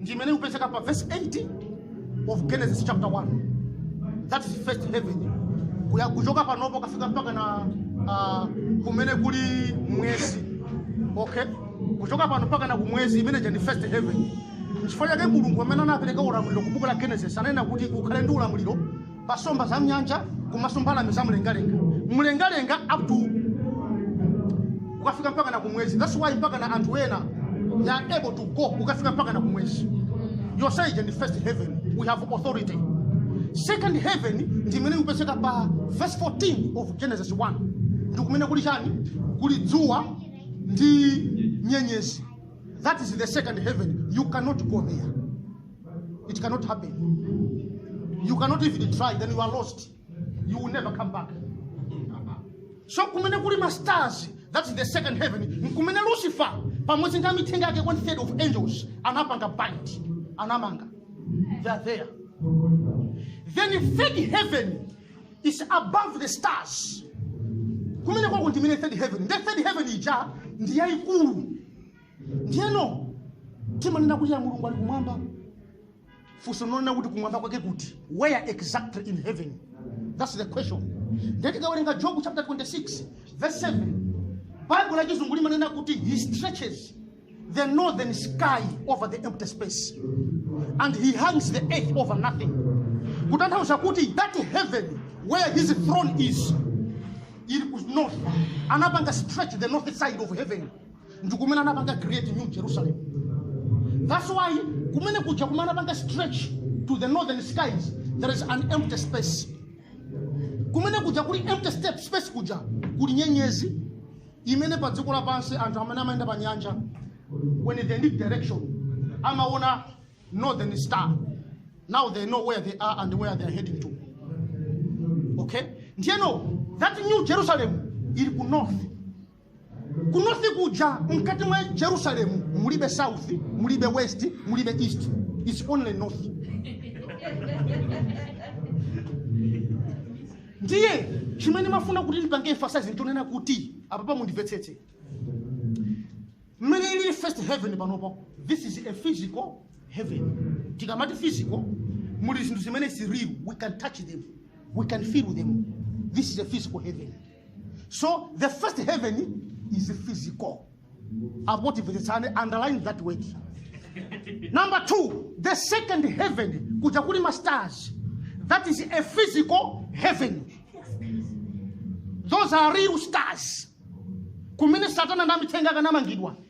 ndi imene ikupezeka pa verse 8 of genesis chapter 1 that is first heaven kuchoka panopo kukafika mpakana uh, kumene kuli mwezi okay kuchoka pano mpakana kumwezi imene ija ndi first heaven nchifukwa yake mulungu mmene anapereka ulamuliro ku buku la genesis ananena kuti ukhale ndi ulamuliro pa somba za mnyanja komanso mbalame za mlengalenga mlengalenga up to ukafika mpaka na kumwezi that's why mpaka na anthu ena they are able to go ukafika mpaka na kumwezi yonse ija ndi first heaven we have authority second heaven ndi imene ikupezeka pa verse 14 of genesis 1 ndi kumene kuli chani kuli dzuwa ndi nyenyezi that is the second heaven you cannot go there It cannot happen. You cannot even try, then you are lost. You will never come back. So kumene kuli ma stars, that is the second heaven. Kumene Lucifer, pamodzi ndi amithenga ake one third of angels, anapanga bind, anamanga. They are there. Then the third heaven is above the stars. Kumene kwako ndi mene third heaven. The third heaven ija ndi yaikulu. ndiyeno timanena kuti ya mulungu ali kumwamba funso n'lonena kuti kumwamba kwake kuti where exactly in heaven thats the question ndiye tikawerenga job chapter 26 verse 7 bible la chizungu limanena kuti he stretches the northern sky over the empty space and he hangs the earth over nothing kutanthauza kuti that heaven where his throne is ili ku north anapanga stretch the north side of heaven ndikumene anapanga create new jerusalem that's why kumene kuja kumene anapanga stretch to the northern skies there is an empty space kumene kuja kuli empty space kuja kuli nyenyezi imene pa dziko lapansi anthu amene amayenda pa nyanja when they need direction amaona northern star now they know where they are and where they are heading to okay ndiyeno that new jerusalem ili ku north ku north kuja mkati mwa jerusalem mulibe south mulibe west mulibe east its only north ndiye chimene ndimafuna kuti ndipange emphasize ndichonena kuti apa apa mundimvetsetse mmene ili first heaven panopo this is a physical heaven tikamati physical muli zinthu zimene zili real we can touch them we can feel them this is a physical heaven so the first heaven is physical apo timvetsetsane underline that word number two the second heaven kuja kuli ma stars that is a physical heaven those are real stars kumene satana ndi amithenga akanamangidwa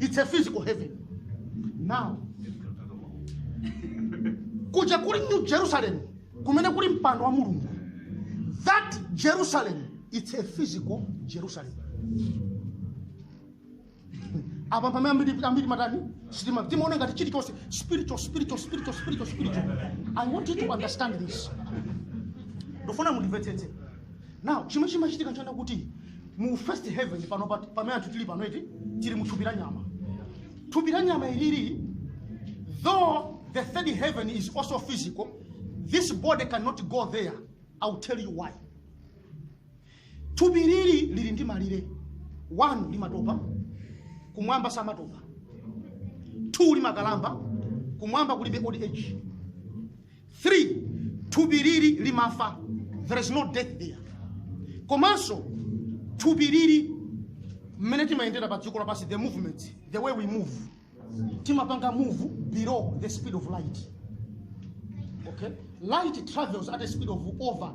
it's a physical heaven now kuja kuli new jerusalem kumene kuli mpando wa mulungu that jerusalem it's a physical jerusalem apa pamene ambiri ambiri timatani sitima timaona ngati chilichonse spiritual spiritual spiritual spiritual spiritual i want you to understand this ndofuna mundimvetsetse Now, chomwe chimachitika n'chonena kuti mu first heaven pano pa- pamene anthu tili pano eti tili mu thupi la nyama. Thupi la nyama ilili though the third heaven is also physical, this body cannot go there. I'll tell you why. Thupi ilili lili ndi malire. One limatopa, kumwamba samatopa. Two limakalamba, kumwamba kulibe old age. 3 thupi lili limafa there is no death there komanso thupi lili mmene timayendera pa dziko lapansi the movement the way we move timapanga move below the speed of light okay light travels at a speed of over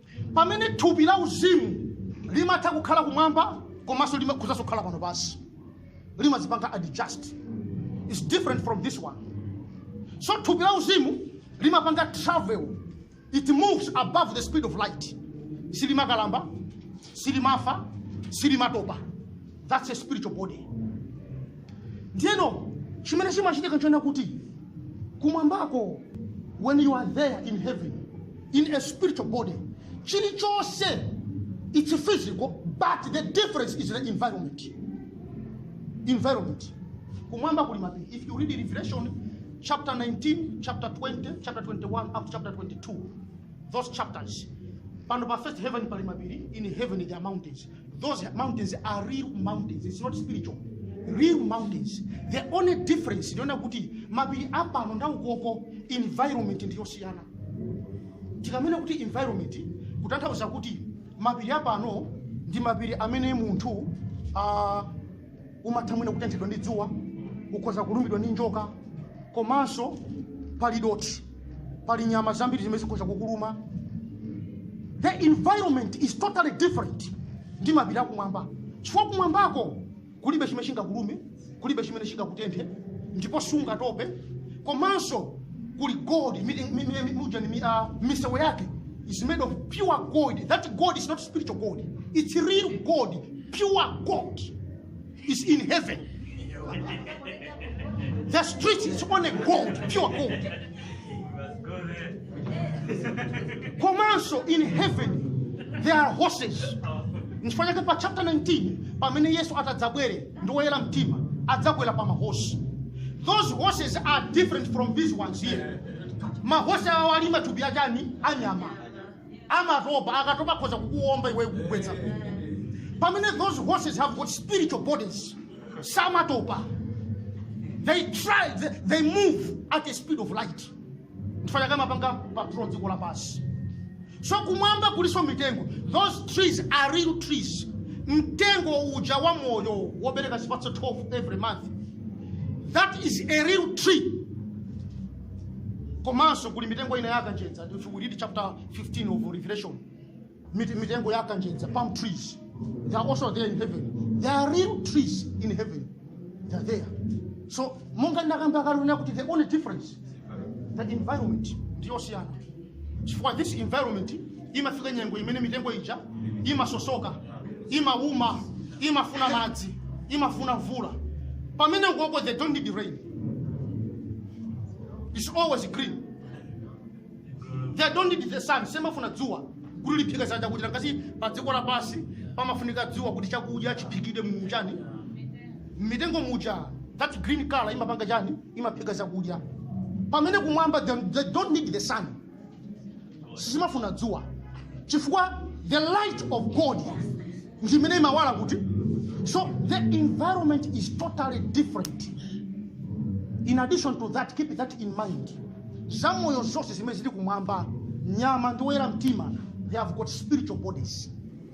pamene thupi la uzimu limatha kukhala kumwamba komanso limakhozanso kukhala pano pansi limazipanga adjust is different from this one so thupi la uzimu limapanga travel it moves above the speed of light silimakalamba silimafa silimatopa that's a spiritual body ndiyeno chimene chimachitika nchona kuti kumwambako when you are there in heaven in a spiritual body chilichonse it's physical but the difference is the environment environment kumwamba kuli mapiri if you read revelation chapter 19 chapter 20 chapter 21 up to chapter 22 those chapters pano pa first heaven pali mapiri in heaven there are mountains Those mountains are real mountains. It's not spiritual. Real mountains. The only difference ndi yonena kuti mapiri apano ndi aukoko environment ndiyosiyana. Tikamanena kuti environment kutanthauza kuti mapiri apano ndi mapiri amene munthu uh, umatha mwina kutenthedwa ndi dzuwa ukhoza kulumidwa ndi njoka komanso pali dothi pali nyama zambiri zimene zikhoza kukuluma the environment is totally different ndi mapiri akumwamba chifukwa kumwambako kulibe chimene chingakulume kulibe chimene chingakutenthe ndipo sungatope komanso kuli gold mi- mi- mi- mi- muja ni mi- ah, misewu yake is made of pure gold that gold is not spiritual gold it's real gold pure gold is in heaven. The street is only gold, pure gold. Komanso in heaven there are horses. Nchifukwa chake pa chapter 19 pamene Yesu atadzabwere ndi woyera mtima adzakwera pa mahosi. Those horses are different from these ones here. Mahosi awa ali matupi achani anyama. amatopa akatopa akhoza kukuwomba iwe kukugwetsa pamene those horses have got spiritual bodies samatopa they try they, they move at the speed of light nchifukwa chake amapanga patrol dziko lapansi so kumwamba kulinso mitengo those trees are real trees mtengo uja wa moyo wobereka zipatso 12 every month that is a real tree komanso kuli mitengo ina ya kanjedza if we read chapter 15 of revelation mit- mitengo ya kanjedza palm trees they are also there in heaven there are real trees in heaven they are there so monga ndakamba kale unena kuti the only difference the environment ndiyosiyana chifukwa this environment imafika nyengo imene mitengo ija imasosoka imauma imafuna madzi imafuna mvula pamene ukoko they don't need rain it's always green they don't need the sun simafuna dzuwa kuti liphike zakudya ngati pa dziko lapansi pamafunika dzuwa kuti chakudya chiphikidwe mu chani mitengo muja that green color imapanga chani imaphika chakudya pamene kumwamba they, they don't need the sun sizimafuna dzuwa chifukwa the light of god ndimene imawala kuti so the environment is totally different in addition to that keep that in mind zamoyo zonse zimene zili kumwamba nyama ndi oyera mtima they have got spiritual bodies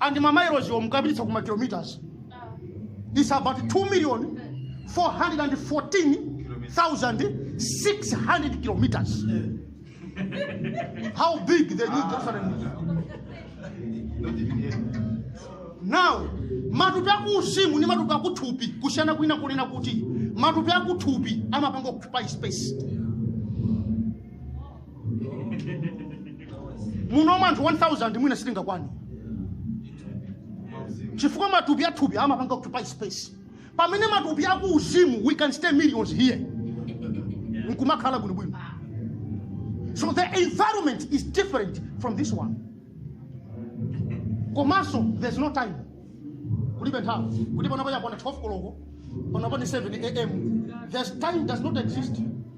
and ma miles-wo mukapititsa ku ma kilometers it's about 2 million 414,600 kilometers how big the new jerusalem is now matupi akuuzimu ndi matupi akuthupi kusiyana kwina kunena kuti matupi akuthupi amapanga occupy space muno anthu 1000 mwina sitingakwane chifukwa matupi athupi amapanga occupy space pamene matupi akuuzimu we can stay millions here nkumakhala bwinobwino so the environment is different from this one komanso there's no time kulibe nthawi kuti panopa yakwana 12 koloko panopa ni 7 am there's time does not exist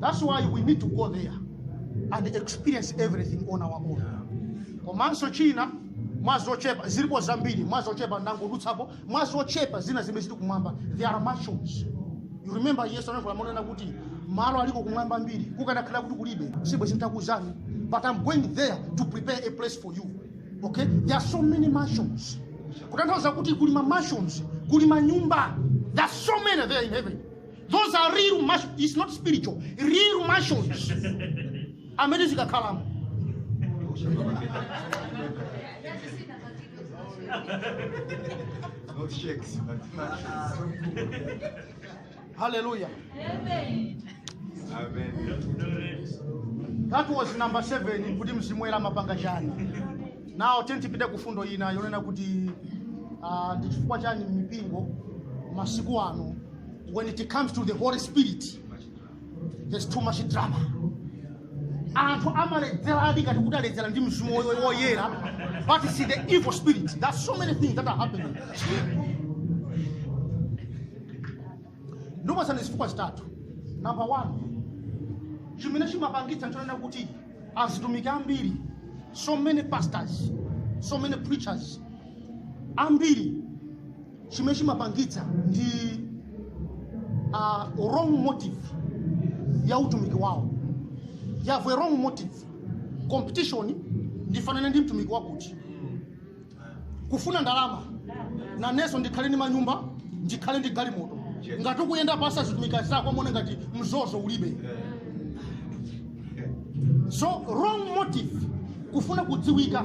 That's why we need to go there and experience everything on our own. Komanso china mwazochepa zilipo zambiri mwazochepa ndangodutsapo mwazochepa zina zimene zili kumwamba there are mansions you remember yesu ananena kuti malo aliko kumwamba ambiri kukanakhala kuti kulibe sibwenzi nditakuuzani but i'm going there to prepare a place for you okay there are so many mansions kutanthauza kuti kuli ma mansions kuli manyumba there are so many there in heaven those are real mansions it's not spiritual real mansions amene tizikakhalamo Not shacks, but mansions. hallelujah Amen. that was number 7 kuti mzimu woyera amapanga chani now tiyeni tipite ku fundo ina yonena kuti ah, ndi chifukwa chani mipingo masiku ano when it comes to the holy spirit there's too much drama anthu amaledzeradi ngati kuti aledzera ndi mzimu woy- woyera but it's the evil spirit there's so many things that are happening ndikupasani zifukwa zitatu number one chimene chimapangitsa nchonena kuti atumiki ambiri so many pastors so many preachers ambiri chimene chimapangitsa ndi uh, wrong motive ya utumiki wawo you have a wrong motive competition ndifanane ndi mtumiki wakuti kufuna ndalama nanenso ndikhale ndi manyumba ndikhale ndi galimoto ngati ukuyenda pansi azitumiki anzako akuone ngati mzozo ulibe so wrong motive kufuna kudziwika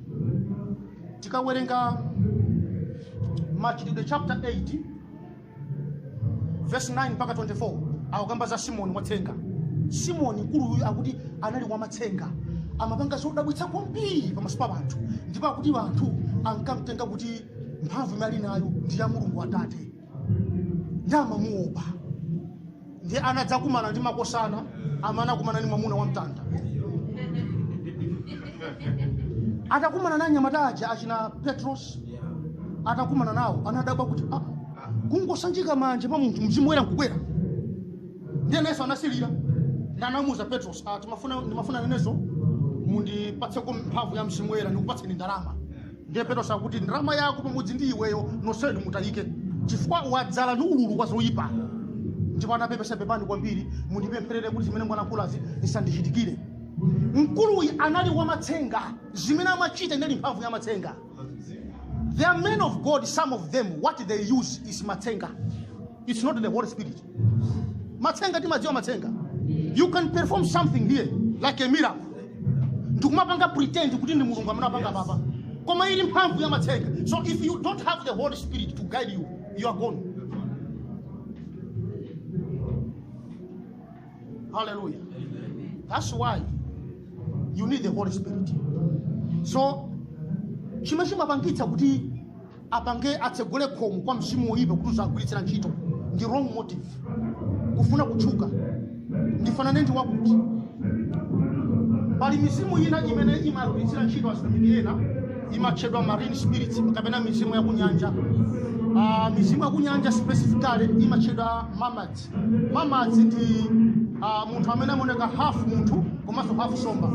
tikawerenga machitidwe chapter 8 verse 9 mpaka 24 akukamba za simoni watsenga simoni mkuluyu akuti anali wamatsenga amapanga zodabwitsa kwambiri pamaso pa anthu ndipo akuti anthu ankamtenga kuti mphamvu imene ali nayo ndi ya mulungu atate ndiye amamuopa ndiye anadzakumana ndi makosana amene anakumana ndi mwamuna wa mtanda atakumana ndi anyamata aja achina petros atakumana nawo anadabwa kuti ah, kungosanjika manja pa munthu mzimu woyera nkubwera ndiye nayenso anasilira ndiye anamuuza petros ah, ndimafuna ndimafuna nanenso mundipatseko mphamvu ya mzimu woyera ndikupatseni ndalama ndiye petros akuti ndalama yako pamodzi ndi iweyo nonsenu mutayike chifukwa wadzala ndi ululu wa zoyipa ndipo anapepesa pepani kwambiri mundipempherere kuti zimene mwalankhulazi zisandichitikire mkuluyu anali wamatsenga zimene amachita inali mphamvu ya matsenga there are men of god some of them what they use is matsenga it's not the holy spirit matsenga timawadziwa matsenga you can perform something here like a miracle ndikumapanga pretend kuti ndi mulungu amene wapanga apapa koma ili mphamvu ya matsenga so if you don't have the holy spirit to guide you you are gone hallelujah that's why you need the holy spirit so chimene chimapangitsa kuti apange atsegule khomo kwa mzimu woyipa kuti uziwagwiritsira ntchito ndi wrong motive kufuna kutchuka ndifanane ndi wakuti pali mizimu ina imene imawagwiritsira ntchito azitumiki ena imatchedwa marine spirits kapena mizimu yakunyanja uh, mizimu yakunyanja specifically imatchedwa mermaids mermaids ndi uh, munthu amene amaoneka half munthu komanso half nsomba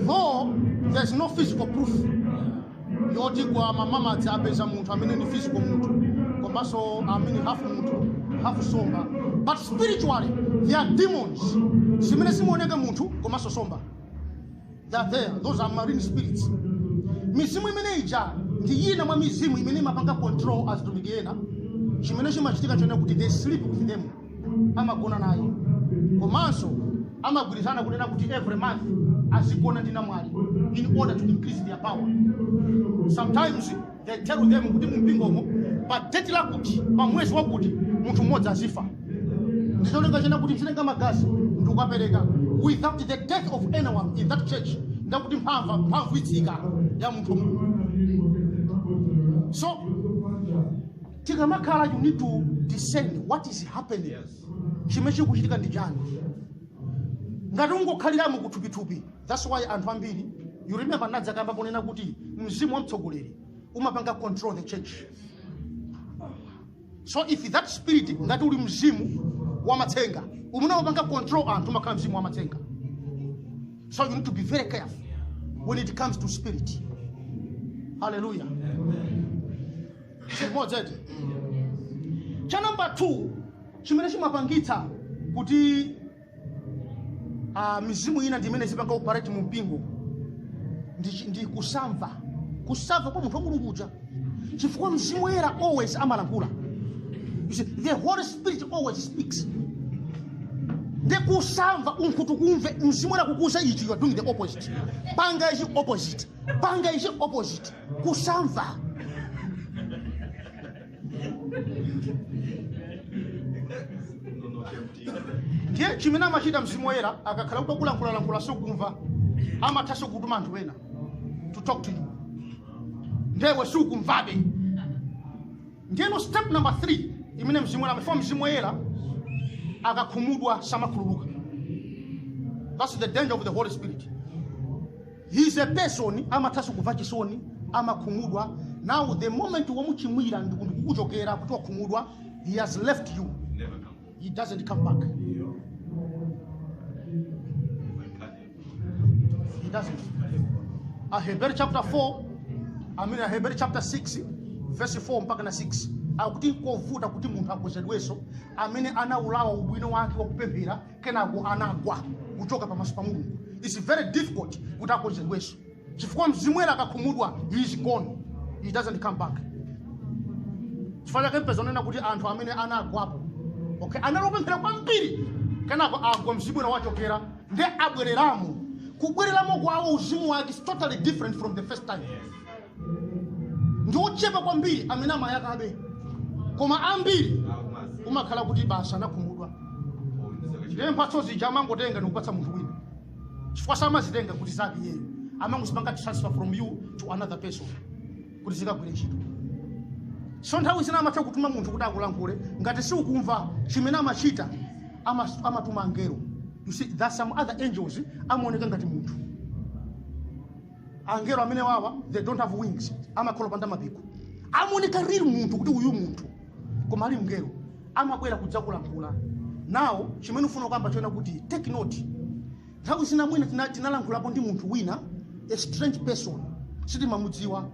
though there's no physical proof yoti kwa mamamadzi apeza munthu amene ndi physical munthu komanso amene half munthu half somba but spiritually they are demons zimene zimaoneka munthu komanso somba they are there those are marine spirits mizimu imene ija ndi yina mwa mizimu imene imapanga control azitumiki ena chimene chimachitika chonena kuti they sleep with them amagona naye komanso amagwirizana kunena kuti every month azigona ndi namwali in order to increase their power sometimes they tell them kuti mumpingomo pa deti lakuti pa mwezi wakuti munthu mmodzi azifa ndicholinga chena kuti nzitenga magazi ndikukapereka without the death of anyone in that church ndekuti mphamvu mphamvu itsika ya munthu wa mulungu so tikamakhala you need to discern what is happening chimene chikuchitika ndi chani ngati ungokhaliramo kuthupithupi that's why anthu ambiri you remember nadzakamba ponena kuti mzimu wa mtsogoleri umapanga control the church so if that spirit ngati uli mzimu wa matsenga umene umapanga control anthu umakhala mzimu wa matsenga so you need to be very careful when it comes to spirit hallelujah chimodzi eti cha number 2 chimene chimapangitsa kuti ah, mizimu ina ndi imene izipanga operate mu mpingo ndi, chi- ndi kusamva kusamva kwa munthu wa mulungu uja chifukwa mzimu woyera always amalankhula You see, the holy spirit always speaks nde kusamva unkhutukumve mzimu woyera kukuuza ichi you are doing the opposite panga ichi opposite panga ichi opposite kusamva ndiye chimene amachita mzimu woyera akakhala kuti akulankhulalankhula siukumva amathanso kutuma anthu ena to talk to you ndewe siukumvabe ndiyeno step number 3 imene mzimu woyera before mzimu woyera akakhumudwa samakhululuka that's the danger of the holy spirit He is a person amathanso kumva chisoni amakhumudwa now the moment wamuchimwira ndiku- ndikukuchokera kuti wakhumudwa he has left you Never come he doesn't come back he doesn't Hebrews chapter 4 Hebrews chapter 6 verse 4 mpaka na 6 akuti nkovuta kuti munthu akonzedwenso amene anaulawa ubwino wake wakupemphera kenako anagwa kuchoka pamaso pa mulungu its very difficult kuti akonzedwenso chifukwa mzimu woyera akakhumudwa he is gone he doesn't come back chifukwa chake mpeza kunena kuti anthu amene anagwapo okay anali opemphera kwambiri kenako agwa mzimu woyera wachokera nde abwereramo kubwereramo kwawo uzimu wake is totally different from the first time ndi ochepa kwambiri amene amayakabe koma ambiri umakhala kuti basi anakhumudwa ndiye mphatso zija amangotenga ndikupatsa munthu wina chifukwa samazitenga kuti zake iyeyo amangozipanga transfer from you to another person kuti zikagwire ntchito so nthawi zina amatha kutuma munthu kuti akulankhule ngati si ukumva chimene amachita ama- amatuma angelo you see that some other angels amaoneka ngati munthu angelo amene wawa they don't have wings amakhala opanda mapiko amaoneka real munthu kuti uyu munthu koma ali mngelo amabwera kudzakulankhula now chimene ufuna koyamba choona kuti take note nthawi zina mwina tina- tinalankhulapo ndi munthu wina a strange person sitimamudziwa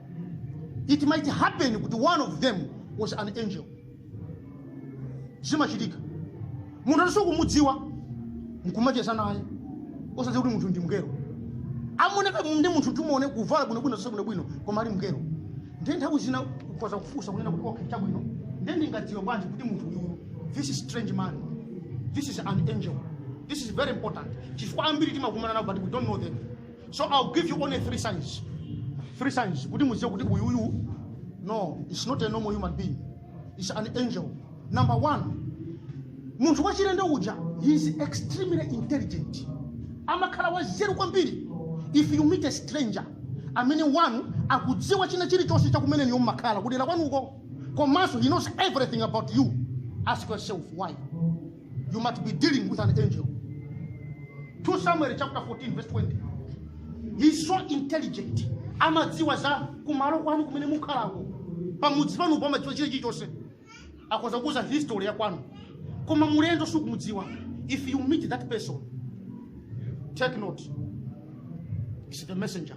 it might happen kuti one of them was an angel zimachitika munthu osamudziwa nkumacheza naye osadziwa kuti munthu ndi mngelo amaoneka ndi munthu timuone kuvala bwinobwino zonse bwinobwino koma ali mngelo ndiye nthawi zina ukhoza kufunsa kunena kuti okay chabwino ndiye ndingadziwe bwanji kuti munthu uyu this is strange man this is an angel this is very important chifukwa ambiri timakumana nawo but we don't know them So I'll give you only three signs. Three signs. Kuti mudziwe kuti uyu uyu. No, it's not a normal human being. It's an angel. Number one, munthu wachilendo uja, he is extremely intelligent. Amakhala wanzeru kwambiri. If you meet a stranger, amene wanu akudziwa china chilichonse cha kumene inuyo mmakhala kudera kwanuko komanso he knows everything about you ask yourself why you must be dealing with an angel 2 samuel chapter 14 verse 20 he's so intelligent amadziwa za kumalo kwanu kumene mukhalako pamudzi panupo amadziwa china chilichonse akhoza kukuuzani history ya kwanu koma mulendo sukumudziwa if you meet that person take note is the messenger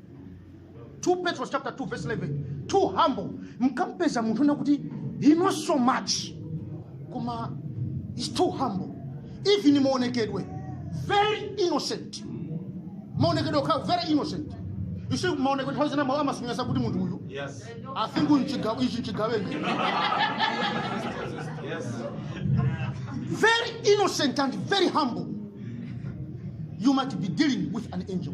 2 Petro chapter 2 verse 11 too humble mukampeza munthu wina kuti he knows so much koma he's too humble even maonekedwe very innocent maonekedwe okha very innocent you see maonekedwe nthawi zina mawu amasonyeza kuti munthu uyu Yes. i think uyu mchigawe ichi mchigawenga Yes. very innocent and very humble you might be dealing with an angel